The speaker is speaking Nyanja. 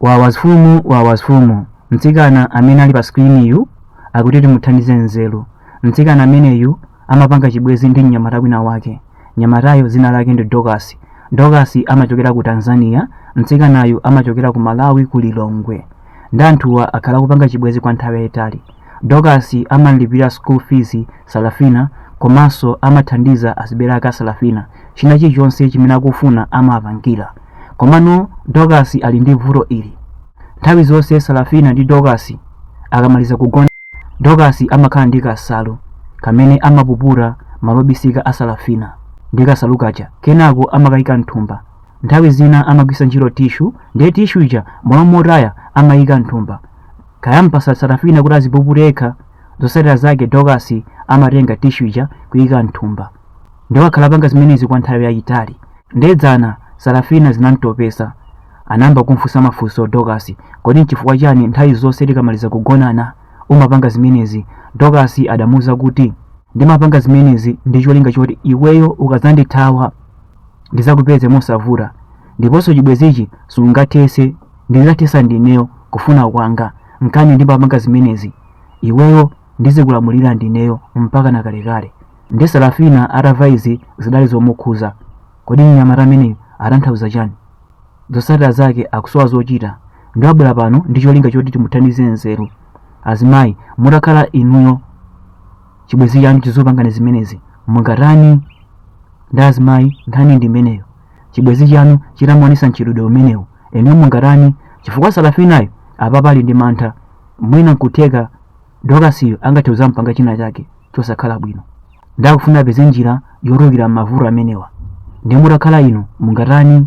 Wawas fumu wawas fumu mtsikana amene ali pa screen yu akuti timuthandize nzeru mtsikana ameneyu amapanga chibwezi ndi mnyamata wina wake mnyamatayo dzina lake ndi Dorcas Dorcas amachokera ku Tanzania mtsikanayu amachokera ku Malawi ku Lilongwe ndi anthuwa akhala akupanga chibwezi kwa nthawi yayitali Dorcas amamlipirira school fees Salafina komanso amathandiza azibereka Salafina china chilichonse chimene akufuna amampangira komano dokasi ali ndi vuto ili nthawi zonse salafina ndi dokasi akamaliza kugona dokasi amakhala ndi kasalu kamene amapuputa malo obisika a salafina ndi kasalu kaja kenako amakayika mthumba nthawi zina amagwisa ntchito tishu ndiye tishu ija m'malo motaya amayika mthumba kaya ampasa salafina kuti azipupute yekha zotsatira zake dokasi amatenga tishu ija kuyika mthumba ndiwo akhala apanga zimenezi kwa nthawi yayitali ndiye dzana sarafina zinamtopesa anayamba kumfunsa mafunso dokasi kodi nchifukwa chani nthawi zonse tikamaliza kugonana umapanga zimenezi dokasi adamuuza kuti ndimapanga zimenezi ndi cholinga choti iweyo ukazandithawa ndizakupeze mosavuta ndiponso chibwezichi sungathese ndizathesa ndineyo kufuna kwanga nkana ndimapanga zimenezi iweyo ndizikulamulira ndineyo mpaka nakalekale Ndiye Sarafina atamva izi zidali zomukhuza. Kodi mnyamata ameneyu atanthauza chani? Zotsatira zake akusowa zochita. Ndiye wabwera pano ndi cholinga choti timuthandize nzeru. Azimayi, mutakhala inuyo chibwezi chanu chizikupangani zimenezi. Mungatani? Ndiye azimayi, nkhani ndi imeneyo. Chibwezi chanu chitamaonesa mchitidwe umenewu. Inuyo mungatani? Chifukwa Sarafinayo apapa ali ndi mantha. Mwina nkutheka Dokasiyo angathe kuzampanga china chake. chosakhala bwino ndiye akufuna apeze njira yotulukira m'mavuto amenewa ndiye mutakhala inu mungatani